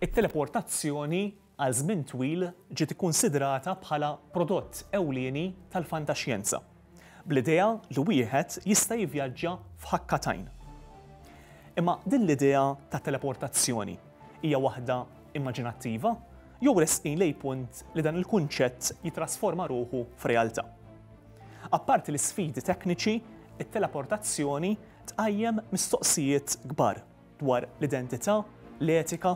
It-teleportazzjoni għal żmien twil ġiet ikkunsidrata bħala prodott ewlieni tal-fantaxjenza, bl-idea li wieħed jista' jivvjaġġa f'ħakka t'għajn. Imma din l-idea ta' teleportazzjoni hija waħda immaġinattiva jew resqin lejn punt li dan il-kunċett jittrasforma ruħu f'realtà? Apparti l-isfidi tekniċi, it-teleportazzjoni tqajjem mistoqsijiet kbar. dwar l-identità, l-etika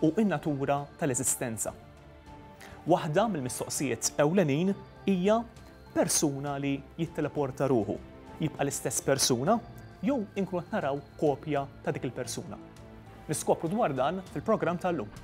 u n-natura tal-eżistenza. Waħda mill-mistoqsijiet ewlenin hija, Persuna li jitteleporta ruħu, jibqa' l-istess persuna jew inkunu qed naraw kopja ta' dik il-persuna? Niskopru dwar dan fil-programm tal-lum.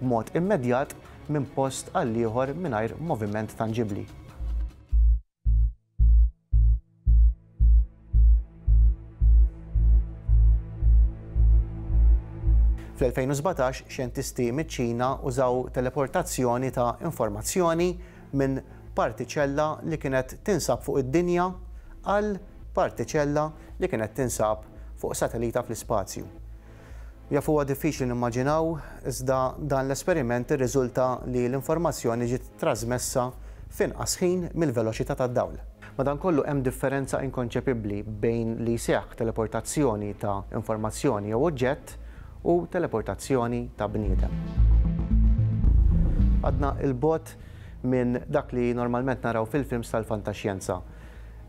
b'mod immedjat minn post għal ieħor mingħajr moviment tanġibbli. Fl-2017, xjentisti miċ-Ċina użaw teleportazzjoni ta' informazzjoni minn partiċella li kienet tinsab fuq id-dinja għal partiċella li kienet tinsab fuq satellita fl-ispazju. Jaf huwa diffiċli nimmaġinaw, iżda dan l-esperiment irriżulta li l-informazzjoni ġiet trażmessa f'inqas ħin mill-veloċità tad-dawl. Madankollu hemm differenza inkonċepibbli bejn li jseħħ teleportazzjoni ta' informazzjoni jew oġġett u teleportazzjoni ta' bniedem. Għadna 'l bogħod minn dak li normalment naraw fil-films tal-fantaxjenza.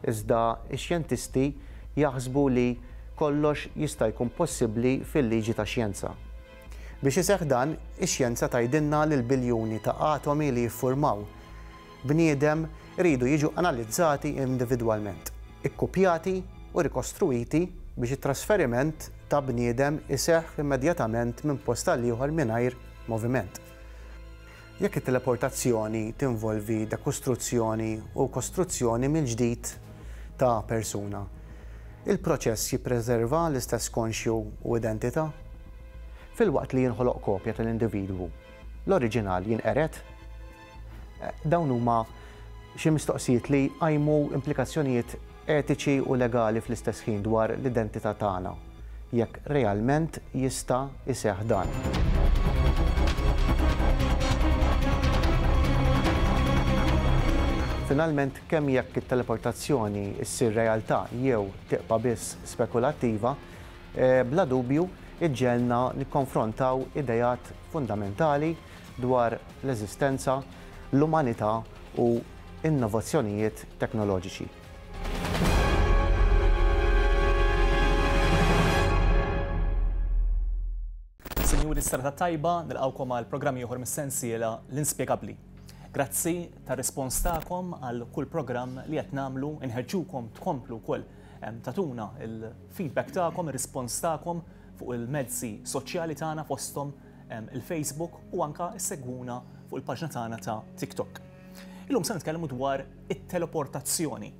Iżda x-xjentisti jaħsbu li kollox jista' jkun possibbli fil-liġi tax-xjenza. Biex iseħħ dan, ix-xjenza tgħidilna li l-biljuni ta' atomi li jiffurmaw bniedem iridu jiġu analizzati individwalment, ikkupjati u rikostruwiti biex it-trasferiment ta' bniedem iseħħ immedjatament minn post għal ieħor mingħajr moviment. Jekk it-teleportazzjoni tinvolvi dekostruzzjoni u kostruzzjoni mill-ġdid ta' persuna, il-proċess jippreserva l-istess konxju u identità? Filwaqt li jinħoloq kopja tal-individwu, l-oriġinal jinqered? Dawn huma xi mistoqsijiet li jqajmu implikazzjonijiet etiċi u legali fl-istess ħin dwar l-identità tagħna, jekk realment jista' jseħħ dan. Finalment, kemm jekk it-teleportazzjoni ssir realtà jew tibqa' biss spekulattiva, bla dubju ġġegħelna nikkonfrontaw ideat fundamentali dwar l-eżistenza, l-umanità u, innovazzjonijiet teknoloġiċi. Sinjuri, s-Serata t-Tajba, nilqgħukom għal programm ieħor mis-sensiela L-Inspjegabbli. Grazzi tar-rispons tagħkom għal kull programm li qed nagħmlu, inħeġġukom tkomplu wkoll tagħtuna l-feedback tagħkom, ir-rispons tagħkom fuq il-mezzi soċjali tagħna fosthom il-Facebook u anke ssegwuna fuq il-paġna tagħna ta' TikTok. Illum se nitkellmu dwar it-teleportazzjoni.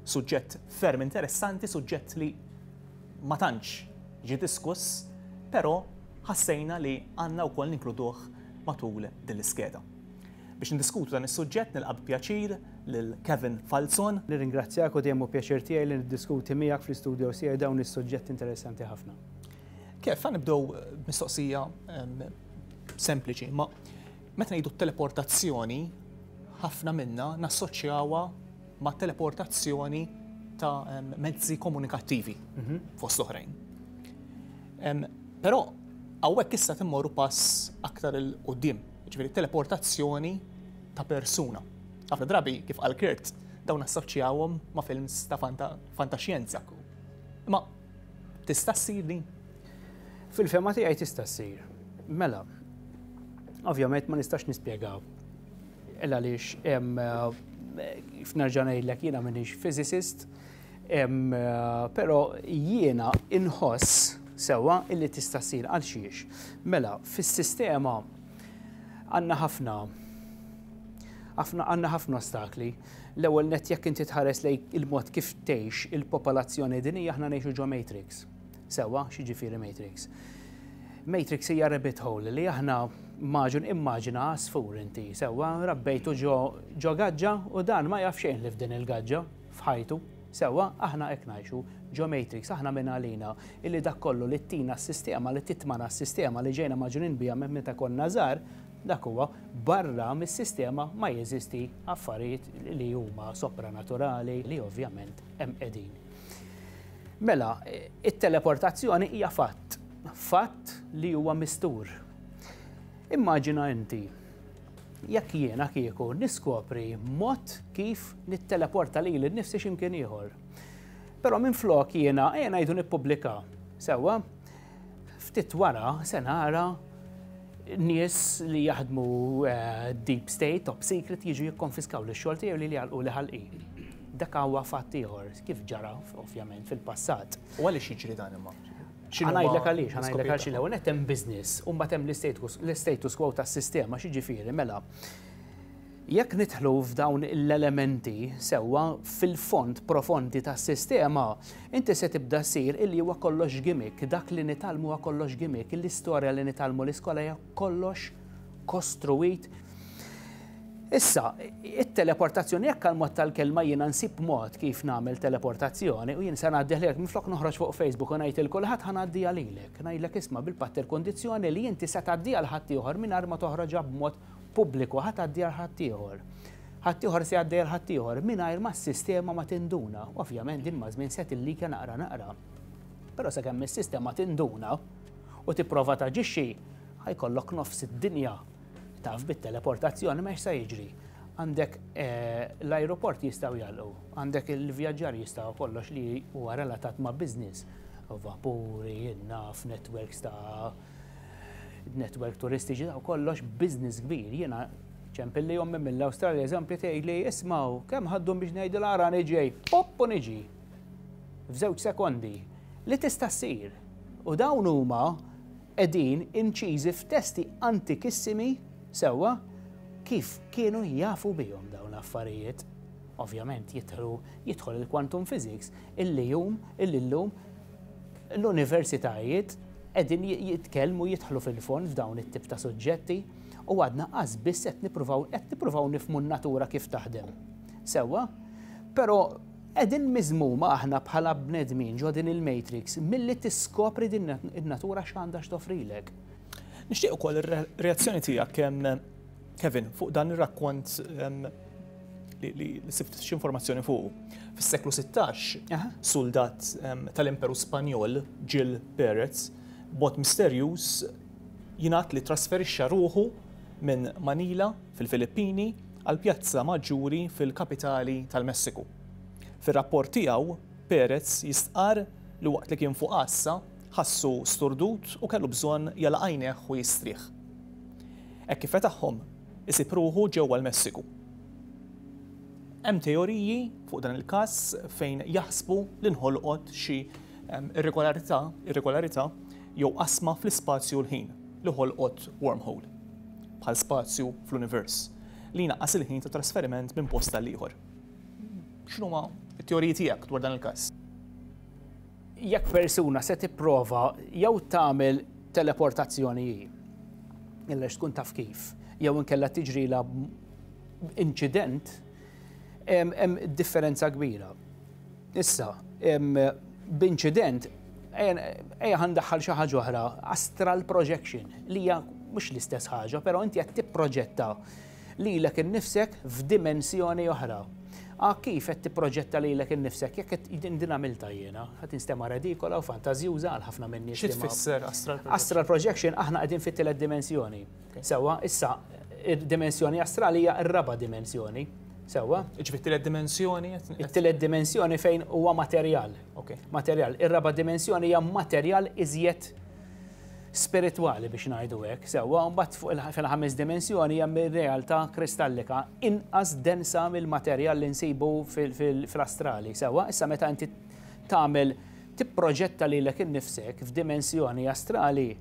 Suġġett ferm interessanti, suġġett li ma tantx ġi diskuss, però ħassejna li għandna wkoll ninkluduh matul din l-iskeda. Biex ndiskutu dan is-suġġett nilqa' pjaċir lil Kevin Falzon. Nirringrazzjak u dejjem hu pjaċir tiegħi li niddiskuti miegħek fl-istudio tiegħi dawn is-suġġetti interessanti ħafna. Kev, ħa nibdew b'mistoqsija sempliċi, imma Meta ngħidu t-teleportazzjoni, ħafna minna nassoċjawha ma' teleportazzjoni ta' mezzi komunikattivi, fost l-oħrajn. Però hawnhekk issa qed immorru pass aktar 'il quddiem, jiġifieri teleportazzjoni ta' persuna. Ħafna drabi, kif qal Kurt, dawn nassoċjawhom ma' films ta' fantaxjenza. Imma Tista' ssir din? Fil-fema tiegħi tista' ssir. Mela, ovvjament ma nistax nispjega il għaliex kif nerġa' ngħidlek jiena m'iniex physicist, però jiena inħoss sewwa illi tista' ssir għal xiex. Mela, fis-sistema għandna ħafna għandna ħafna ostakli. L-ewwel nett jekk inti tħares lejn il-mod kif tgħix il-popolazzjoni dinjija aħna ngħixu ġo matrix. Sewwa, x'jiġifieri matrix? Matrix hija rabbit hole li aħna maġun immaġina għasfur inti, sewwa, rabbejtu ġo gaġġa u dan ma jaf xejn li f'din il-gaġġa f'ħajtu, sewwa, aħna hekk ngħixu ġo matrix, aħna minn għalina illi dak kollu li ttina s-sistema, li titmana s-sistema li ġejna maġunin biha minn meta konna żgħar, Dak huwa, barra mis-sistema ma jeżisti affarijiet li huma sopranaturali li ovvjament hemm qegħdin. Mela, it-teleportazzjoni hija fatt, fatt li huwa mistur. Immaġina inti jekk jiena kieku niskopri mod kif nitteleporta lili nnifsi x'imkien ieħor. Però minflok jiena ejja ngħidu nippubblika, sewwa? Ftit wara se nara nies li jaħdmu eh, deep state, top secret, jiġu jikkonfiskaw li xogħol tiegħu li li għalqu li ħalqi. Dak huwa fatt ieħor, kif ġara ovvjament fil-passat. U għaliex jiġri dan imma? Għanajdlek għaliex, għanajdlek għaliex l-ewwel qed hemm business u mbagħad hemm l-status quo tas-sistema, xi ġifieri, mela. Jekk nidħlu f'dawn l-elementi sewwa fil-fond profondi tas-sistema, inti se tibda ssir illi huwa kollox gimmick, dak li nitgħallmu huwa kollox gimmick, l-istorja li nitgħallmu l-iskola hija kollox kostruwit. Issa, it-teleportazzjoni, jekk għall-mod tal-kelma jiena nsib mod kif nagħmel teleportazzjoni u jien se ngħaddiha lilek, minflok noħroġ fuq Facebook u ngħid 'il kulħadd ħa ngħaddiha lilek, ngħidlek isma' bil-patt il-kundizzjoni li inti se tgħaddiha 'l ħaddieħor mingħajr ma toħroġha b'mod pubbliku ħa tgħaddi għal ħaddieħor. Ħaddieħor se jgħaddi għal ħaddieħor mingħajr ma s-sistema ma tinduna. Ovvjament din maż-żmien se tillika naqra naqra. Però sakemm is-sistema tinduna u tipprova taġixxi, ħajkollok nofs id-dinja taf bit-teleportazzjoni ma se jiġri. Għandek eh, l-aeroport jistgħu jgħalqu, għandek il-vjaġġar jistgħu kollox li huwa relatat ma' business, vapuri, naf, networks ta' network turistiċi ta' kollox business kbir. Jiena ċempilli ommi mill-Awstralja eżempju tgħidli ismgħu kemm ħaddu biex ngħidu l-ara niġej, pop u niġi. F'żewġ sekondi li tista' ssir. U dawn huma qegħdin inċiżi f'testi antikissimi sewwa kif kienu jafu bihom dawn l-affarijiet. Ovvjament jidħlu jidħol il-quantum physics Illejum, illillum, l-universitajiet qegħdin jitkellmu jidħlu fil-fond f'dawn it-tip ta' suġġetti u għadna qas biss qed nippruvaw qed nippruvaw nifmu n-natura kif taħdem. Sewwa, però qegħdin miżmuma aħna bħala bnedmin ġo din il-matrix milli tiskopri din in-natura x'għandha x'tofrilek. Nixtieq ukoll ir-reazzjoni tiegħek kemm Kevin, fuq dan ir-rakkont li sibt x'informazzjoni fuq. Fis-seklu 16, soldat tal-Imperu Spanjol, Gil Perez, bot misterjuż jingħad li trasferixxa ruħu minn Manila fil-Filippini għal Pjazza Maġġuri fil-kapitali tal-Messiku. Fir-rapport tiegħu, Perez jistqarr li waqt li kien fuq għassa, ħassu sturdut u kellu bżonn jagħlaq għajnejh u jistrieħ. Hekk kif fetaħhom, isib ruħu ġewwa l-Messiku. Hemm teoriji fuq dan il-każ fejn jaħsbu li nħolqot xi irregolarità, irregolarità jew qasma fl-ispazju u l-ħin li ħolqot wormhole, bħal spazju fl-univers, li jnaqqas il-ħin ta' trasferiment minn post għal ieħor. X'inhuma t-teoriji tiegħek dwar dan il-każ? Jekk persuna se tipprova jew tagħmel teleportazzjoni hi, illa x'tkun taf kif, jew inkella tiġrilha inċident, hemm differenza kbira. Issa, b'inċident, ejja ħa ndaħħal xi ħaġa oħra, astral projection, li hija mhux l-istess ħaġa, però inti qed tipproġetta lilek innifsek f'dimensjoni oħra. A kif qed tipproġetta lilek innifsek jekk qed din din għamiltha jiena, qed instema' redikola u fantażjuża għal ħafna min-nies. Xi tfisser astral projection? Astral projection aħna qegħdin fit-tielet dimensjoni. Sewwa, issa id-dimensjoni astrali hija r-raba' dimensjoni. Sewwa? Jiġifieri t-tielet dimensjoni? It-tielet dimensjoni fejn huwa materjal. Materjal. Ir-raba' dimensjoni hija materjal iżjed spiritwali biex ngħidu hekk, sewwa, u mbagħad fuq il- fil-ħames dimensjoni hemm ir-realtà kristallika inqas densa mill-materjal li nsibu fil- fil- fl-astrali, sewwa. Issa meta inti tagħmel tipproġetta lilek innifsek f'dimensjoni astrali,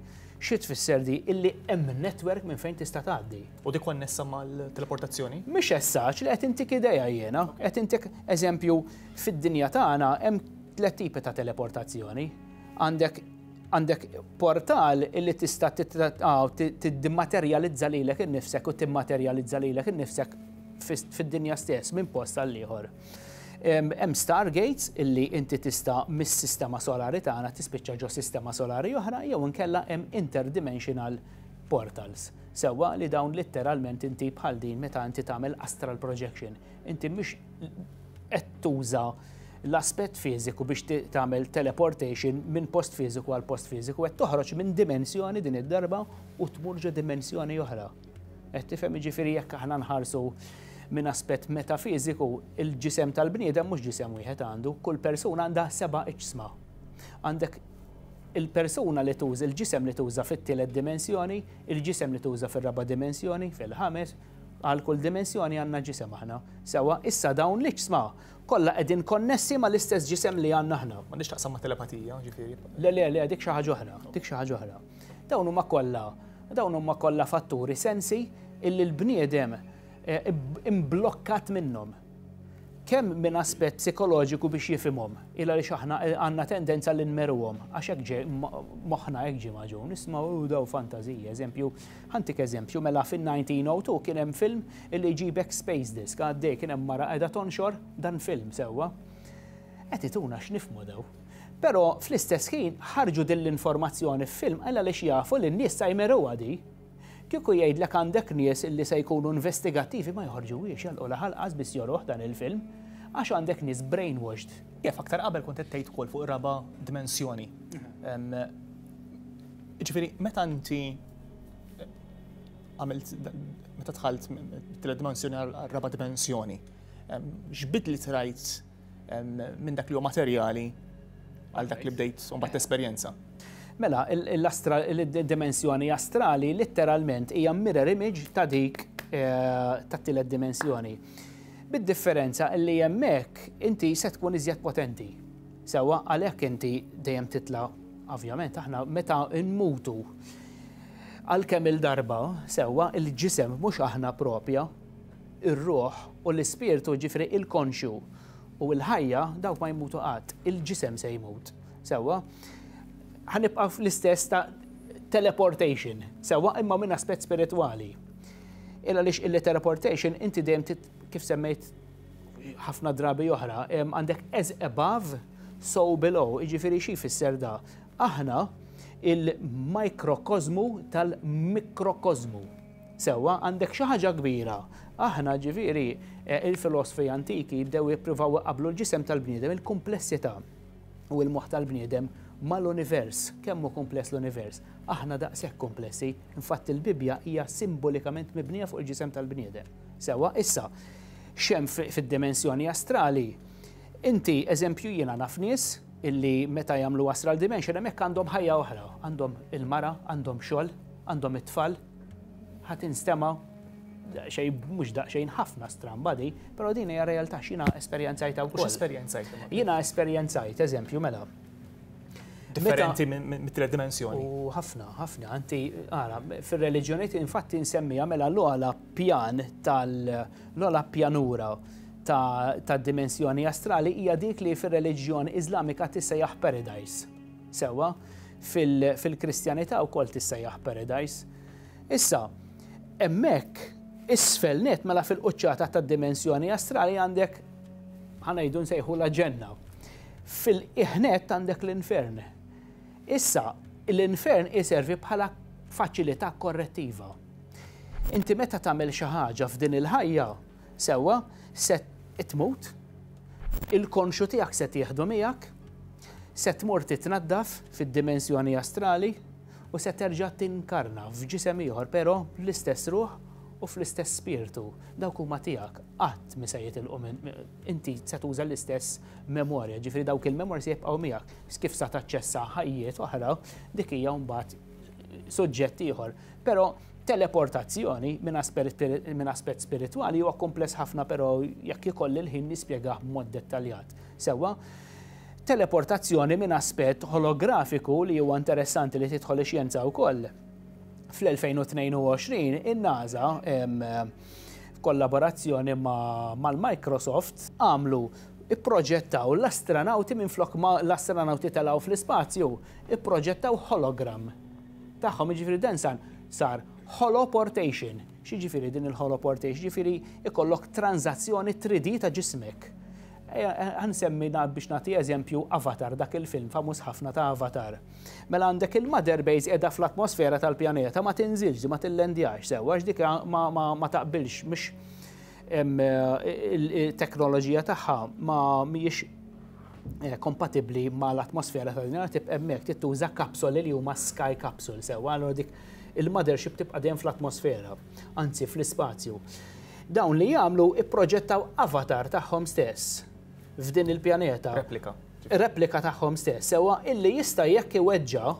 xi tfisser di? Illi hemm network minn fejn tista' tgħaddi. U di konnessa mal-teleportazzjoni? Mhix as such, le qed intik idea jiena, qed intik eżempju fid-dinja tagħna hemm tliet tipi ta' teleportazzjoni. Għandek Għandek portal illi tista' tiddimaterjalizza lilek innifsek u timmaterjalizza lilek innifsek fid-dinja stess minn post għal ieħor. Hemm stargates illi inti tista' mis-sistema solari tagħna tispiċċa ġo sistema solari oħra jew inkella hemm interdimensional portals. Sewwa li dawn litteralment inti bħal din meta inti tagħmel astral projection Inti mhux qed tuża l-aspett fiżiku biex tagħmel teleportation minn post fiżiku għal post fiżiku, qed toħroġ minn dimensjoni din id-darba u tmur ġo dimensjoni oħra. Qed tifhem jiġifieri jekk aħna nħarsu minn aspett metafiżiku, il-ġisem tal-bniedem mhux ġisem wieħed għandu, kull persuna għandha seba' iġsma. Għandek il-persuna li tuża, il-ġisem li tuża fit-tielet dimensjoni, il-ġisem li tuża fir-raba' dimensjoni, fil-ħames, Għal kull dimensjoni għandna ġisem aħna. Sewwa, issa dawn l-iġsma kollha qegħdin konnessi mal-istess ġisem li għandna aħna. M'għandhiex x'taqsam ma' telepatija, ġifieri. Le, le, le, dik xi ħaġa oħra, dik xi ħaġa oħra. Dawn huma kollha, dawn huma kollha fatturi, sensi illi l-bniedem imblokkat minnhom. Kemm minn aspett psikoloġiku biex jifhimhom, il għaliex aħna għandna tendenza li nmeruhom, għax hekk ġej moħħna hekk ġie magħġun, isma' hu dawn fantażiji, eżempju, Ħa ntik eżempju, mela fin-1902 kien hemm film li jġibek space disk, għaddej kien hemm mara qiegħda tonxor dan film, sewwa. Qed ituna x'nifhmu daw. Però fl-istess ħin ħarġu din l-informazzjoni f'film għal għaliex jafu li n-nies sa jmiruha di. Kieku jgħidlek għandek nies li se jkunu investigattivi ma joħorġuhiex jagħlqu l-aħal qas biss joruh dan il-film għax għandek nies brainwashed. Jaf aktar qabel kont qed tgħid ukoll fuq ir-raba' dimensjoni. Jiġifieri meta inti għamilt meta tħalt mit-tielet dimensjoni għal-raba dimensjoni. X'bid li trajt minn dak li huwa materjali għal dak li bdejt u mbagħad esperjenza. Mela, il-dimensjoni astrali litteralment hija mirror image ta' dik eh, ta' tielet dimensjoni. Bid-differenza li hemmhekk inti se tkun iżjed potenti. Sewwa, għalhekk inti dejjem titla' Ovvjament aħna meta nmutu għal kemm-il darba, sewwa, il-ġisem mhux aħna proprja, ir-ruħ u l-ispirtu, jiġifieri il-konxju u l-ħajja, dawk ma jmutu qatt. Il-ġisem se jmut. Sewwa? Ħa nibqa' fl-istess ta' teleportation, sewwa, imma minn aspett spiritwali. Il għaliex il-teleportation inti dejjem kif semmejt ħafna drabi oħra, għandek as above, so below, iġifiri xi fisser da. Aħna il-mikrokozmu tal-mikrokozmu. Sewa, għandek xi ħaġa kbira. Aħna ġifiri eh, il-filosfi antiki jibdew jippruvaw iqablu l-ġisem tal-bniedem, il-komplessità u l-moħħ tal-bniedem mal-univers, kemm hu kumpless l-univers. Aħna daqshekk komplessi, infatti l-Bibbja hija simbolikament mibnija fuq il-ġisem tal-bniedem. Sewwa, issa, x'hemm fid-dimensjoni astrali? Inti, eżempju, jiena naf nies illi meta jagħmlu astral dimension hemmhekk għandhom ħajja oħra, għandhom il-mara, għandhom xogħol, għandhom it-tfal. Ħa tinstema' daqsxejn mhux daqsxejn ħafna stramba di, però din hija realtà x'jiena esperjenzajtha wkoll. Esperjenzajt. Jiena esperjenzajt, eżempju, mela. Differenti mit-tret dimensjoni. U ħafna, ħafna, anti, għara, fir-reliġjoniet infatti nsemmija mela l-għala pjan tal-ogħla pjanura ta' dimensjoni astrali hija dik li fir-reliġjon Iżlamika tissejjaħ paradise. Sewwa, fil-Kristjanità wkoll tissejjaħ paradise. Issa, hemmhekk isfel net mela fil-quċċata ta' dimensjoni astrali għandek ħanajdu nsejħu la ġenna. Fil-iħnet għandek l-infern. Issa, l-infern iservi bħala faċilità korrettiva. Inti meta tagħmel xi ħaġa f'din il-ħajja, sewwa, se tmut, il-konxu tiegħek se tieħdu miegħek, se tmur titnaddaf fid-dimensjoni astrali u se terġa' tinkarna f'ġisem ieħor però bl-istess ruħ u fl-istess spirtu. Dawk huma tiegħek qatt mi se jitilqu minn inti se tuża l-istess memorja, ġifieri dawk il-memorja se jibqgħu miegħek. Kif sa taċċessa ħajjiet oħra, dik hija mbagħad suġġett ieħor. Però teleportazzjoni minn aspett spiritwali huwa kumpless ħafna però jekk ikolli l-ħin nispjegah b'mod dettaljat. Sewwa, teleportazzjoni minn aspett holografiku li huwa interessanti li tidħol ix-xjenza wkoll. Fl-2022 in-NASA f'kollaborazzjoni mal-Microsoft għamlu ipproġettaw l-astranawti minflok ma l-astranawti telgħu fl-ispazju, ipproġettaw hologram. tagħhom, jiġifieri dan san sar holoportation. X'jiġifieri din il-holoportation? Jiġifieri ikollok transazzjoni 3D ta' ġismek. Għansemmi eh, biex nagħti eżempju Avatar, dak il-film famuż ħafna ta' Avatar. Mela għandek il-mother base qiegħda fl-atmosfera tal-pjaneta ma tinżilx, ma tillendjax sewa, dik ma taqbilx, mhux it-teknoloġija tagħha ma mhijiex Eh, kompatibli ma l-atmosfera ta' dinja tibqa' hemmhekk tittuża kapsoli li huma sky capsule sewa għal dik il-mothership tibqa' dejjem fl-atmosfera, anzi fl-ispazju. Dawn li jagħmlu ipproġettaw avatar tagħhom stess f'din il-pjaneta. Replika. Replika tagħhom stess, sewa illi jista' jekk iweġġa'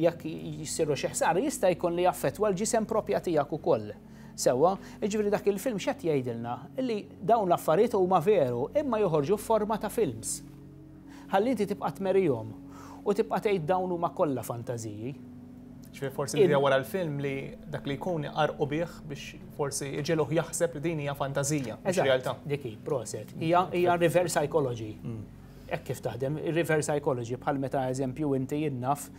jekk jisiru xi ħsar jista' jkun li jaffettwa l-ġisem propja tiegħek ukoll. Sewwa, jiġifieri dak il-film x'qed jgħidilna? Li dawn l-affarijiet huma veru, imma joħorġu f'forma ta' films. Ħalli inti tibqa' tmerihom u tibqa' tgħid dawn huma kollha fantażiji. Ġifieri forsi l-idea wara l-film li dak li jkun iqarrqu bih biex forsi jġegħluh jaħseb li din hija fantażija, mhux realtà. Dik hi, proset. Hija hija reverse psychology. Hekk kif taħdem, reverse psychology bħal meta eżempju inti jien naf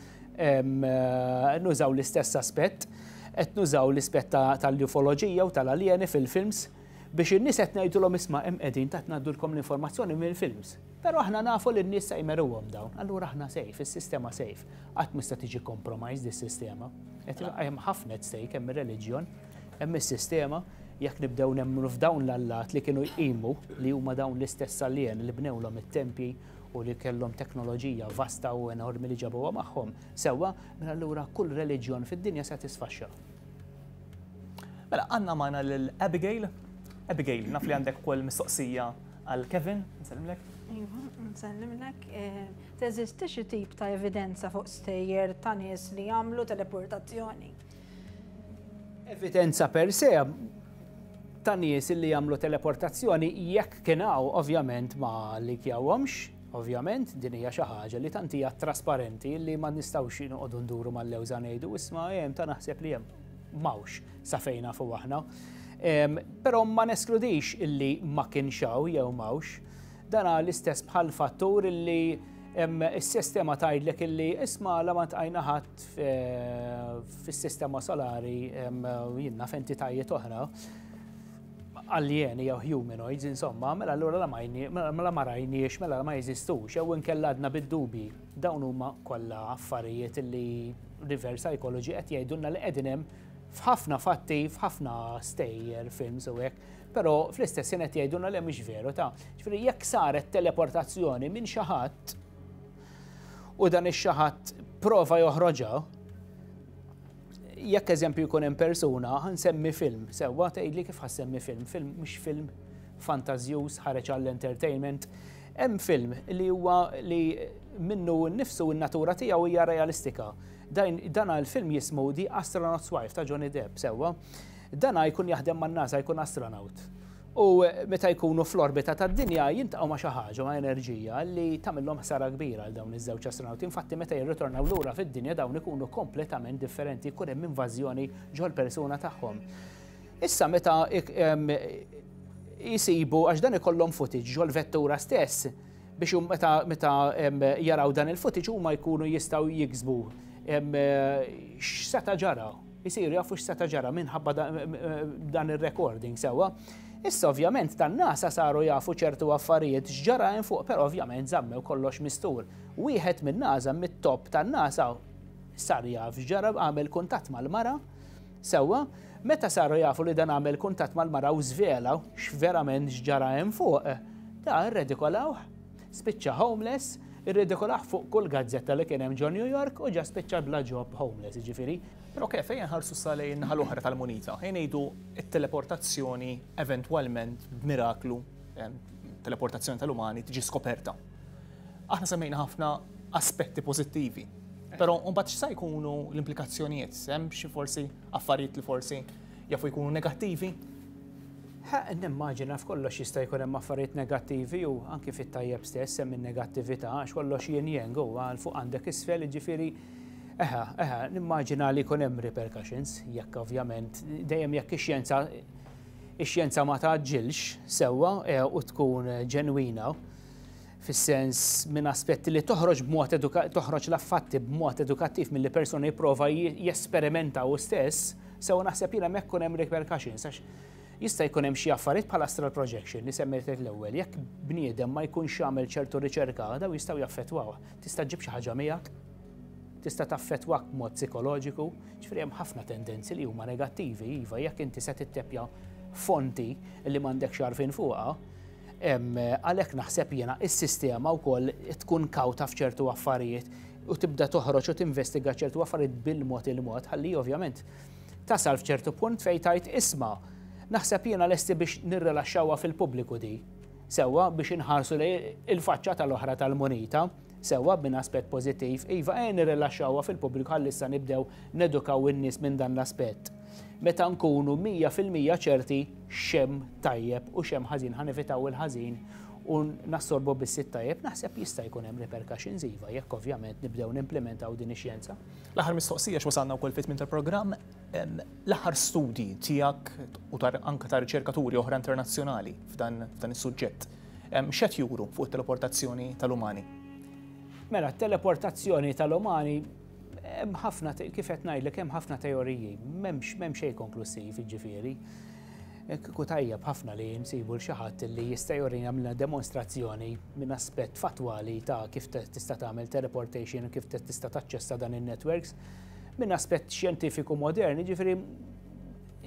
nużaw l-istess aspett, qed nużaw l-ispett tal-ufoloġija u tal-aljeni fil-films biex in-nies qed ngħidulhom isma' hemm qegħdin ta' ngħaddulkom l-informazzjoni mill-films. Però aħna nafu li n-nies se jmeruhom dawn, allura aħna safe, is-sistema safe. Qatt m'ista' tiġi compromised is-sistema. Hemm ħafna at stake, hemm ir-reliġjon, hemm is-sistema, jekk nibdew nemmnu f'dawn l-allat li kienu jqimu li huma dawn l-istess aljeni li bnewlhom it-tempji, u li kellhom teknoloġija vasta u enormi li ġabuha magħhom, sewwa, mela allura kull reliġjon fid-dinja se tisfaxxa. Mela, għandna magħna lil Abigail. Abigail, naf li għandek ukoll mistoqsija għal Kevin, nsellimlek. Iva, nsellimlek. Eh, teżisti xi tip ta' evidenza fuq stejjer ta' nies li jagħmlu teleportazzjoni? evidenza per se ta' nies li jagħmlu teleportazzjoni jekk kien hawn ovvjament ma li kjawhomx, ovvjament din hija xi ħaġa li tant hija trasparenti li ma nistgħux inqogħdu nduru mal-lewża ngħidu isma' hemm ta' naħseb li hemm. M'hawnx sa fejn nafu aħna. Però ma neskludix illi ma kienx hawn jew m'hawnx. Dan l-istess bħal fattur illi s-sistema tgħidlek illi isma' la ma tqajna ħadd fis-sistema solari jinna f'entitajiet oħra aljeni jew humanoids, insomma, mela allura la mela ma rajniex, mela la ma jeżistux, jew inkella għadna bid-dubi. Dawn huma kollha affarijiet li reverse psychology qed jgħidulna li qegħdin hemm f'ħafna fatti, f'ħafna stejjer, films u hekk. Però fl-istess jien qed jgħidulna li mhix veru ta'. Ġifieri jekk saret teleportazzjoni minn xi ħadd u dan ix-xi ħadd prova joħroġha, jekk eżempju jkun hemm persuna ħansemmi film, sewwa tgħidli kif ħassemmi film, film mhux film fantażjuż ħareġ għall-entertainment. Hemm film li huwa li minnu nnifsu n-natura tiegħu hija realistika. Dan għal film jismu The Astronaut's Wife ta' Johnny Depp, sewwa. Dana jkun jaħdem man-NASA, jkun astronawt. U meta jkunu fl-orbita tad-Dinja jiltaqgħu ma' xi ħaġa, ma' enerġija li tagħmilhom ħsara kbira għal dawn iż-żewġ astronawti. Infatti meta jirritornaw lura fid-Dinja dawn ikunu kompletament differenti, jkun hemm invażjoni ġol-persuna tagħhom. Issa meta jsibu għax dan ikollhom footage ġol-vettura stess biex meta meta jaraw dan il-footage huma jkunu jistgħu jiksbu x'seta' ġara Isiru jafu x'seta' ġara minħabba dan ir-recording sewwa. Issa ovvjament tan-nasa saru jafu ċertu affarijiet x'ġara hemm fuq, però ovvjament żammew kollox mistur. Wieħed min-nasa mit-top tan-nasa sar jaf x'ġara għamel kuntatt mal-mara sewwa. Meta saru jafu li dan għamel kuntatt mal-mara u żvela x'verament x'ġara hemm fuq, ta' irredikolawh. Spiċċa homeless, irridikolah fuq kull gazzetta li kien hemm ġo New York u ġa spiċċa bla ġob, homeless jiġifieri. Però kif, ejja nħarsu issa lejn in-naħa l-oħra tal-munita. Ejja ngħidu t-teleportazzjoni eventwalment b'miraklu, teleportazzjoni tal-umani, tiġi skoperta. Aħna semmejna ħafna aspetti pożittivi. Però mbagħad x'sa jkunu l-implikazzjonijiet? Hemm xi forsi affarijiet li forsi jafu jkunu negattivi? Ħa, nimmaġina f'kollox jista' jkun hemm affarijiet negattivi u anki fit-tajjeb stess hemm in-negattività għax kollox yin yang u għal fuq għandek isfel jiġifieri eħa, eħa, nimmaġina li jkun hemm repercussions jekk ovvjament dejjem jekk ix-xjenza ix-xjenza ma tgħaġġilx sewwa u tkun ġenwina. fis-sens minn aspetti li toħroġ b'mod toħroġ l-fatti b'mod edukattiv milli persuna jipprova jesperimenta hu stess, sew naħseb jien hemmhekk ikun hemm repercussions għax jista' jkun hemm xi affarijiet bħal astral projection li semmejtlek l-ewwel, jekk bniedem ma jkunx għamel ċertu riċerka dawn jistgħu jaffettwawh. Tista' ġġib xi ħaġa miegħek, tista' taffettwak b'mod psikoloġiku, ġifieri hemm ħafna tendenzi li huma negattivi iva jekk inti se titteppja fonti li m'għandekx għarfien fuqha, Għalhekk naħseb jiena s-sistema wkoll tkun kawta f'ċertu affarijiet u tibda toħroġ u tinvestiga ċertu affarijiet bil-mod il-mod ħalli ovvjament tasal f'ċertu punt fejn tgħid isma' naħseb jiena lesti biex nirrilaxxawha fil-pubbliku di sewwa biex inħarsu lejn il-faċċa tal-oħra tal-munita. Sewwa, minn aspett pożittiv, iva, ejja nirrilaxxawha fil-pubbliku ħalli issa nibdew nedukaw in-nies minn dan l-aspett. Meta nkunu mija fil-mija ċerti x'hemm tajjeb u x'hemm ħażin ħa nevitaw il-ħażin u nassorbu biss it-tajjeb, naħseb jista' jkun hemm repercussions iva, jekk ovvjament nibdew nimplimentaw din ix-xjenza. L-aħħar mistoqsija x'wasalna wkoll fi tmiem tal-programm, l-aħħar studji tiegħek u anke ta' riċerkaturi oħra internazzjonali f'dan is-suġġett. x'qed juru fuq it-teleportazzjoni tal-umani? Mela, t-teleportazzjoni tal-umani hemm ħafna kif qed ngħidlek hemm ħafna teoriji, m'hemmx m'hemm xejn konklusiv jiġifieri. Kieku tajjeb ħafna li nsibu l xi ħadd li jista' jurina għamilna demonstrazzjoni minn aspett fattwali ta' kif tista' tagħmel teleportation u kif tista' taċċessa dan in-networks. Minn aspett xjentifiku modern, jiġifieri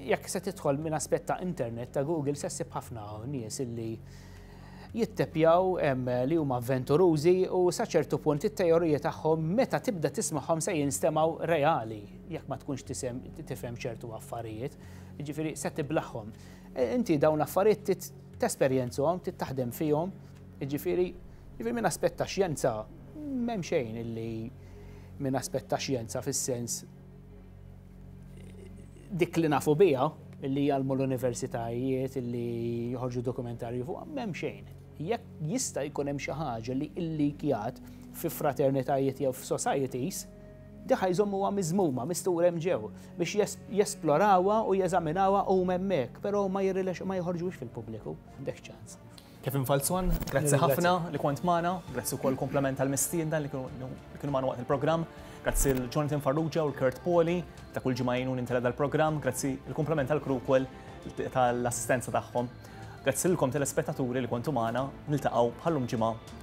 Jekk se tidħol minn aspett ta' internet ta' Google se ssib ħafna nies illi jittepjaw li huma avventurużi u sa ċertu punt it-teorija tagħhom meta tibda tismagħhom se jinstemgħu reali jekk ma tkunx tifhem ċertu affarijiet, jiġifieri se tiblaħħom. E, inti dawn l-affarijiet tesperjenzhom, taħdem fihom, jiġifieri jiġifieri minn aspett ta' xjenza m'hemm xejn illi minn aspett ta' xjenza fis-sens dik li nafu biha, li jgħalmu l-universitajiet, li jħorġu dokumentarju fuq, m'hemm xejn. Jekk jista' jkun hemm xi ħaġa li illikjat fi fraternitajiet jew f'societies, diħa jżommuha miżmuma, mistura hemm ġew, biex jesplorawha u jeżaminawha huma hemmhekk, però ma jirrilex ma jħorġux fil-pubbliku, m'għandek ċans. Kevin Falzon, grazzi ħafna li kont magħna, grazzi wkoll kumplament tal-mistiedna li kienu magħna waqt il-programm, grazzi lil Jonathan Farrugia u Kurt Poli ta' kull ġimgħa jgħinuni ntella' dal-programm, grazzi l-kumplament tal-crew ukoll tal-assistenza tagħhom. Grazzi lilkom telespettaturi li kontu magħna, niltaqgħu bħal-lum ġimgħa.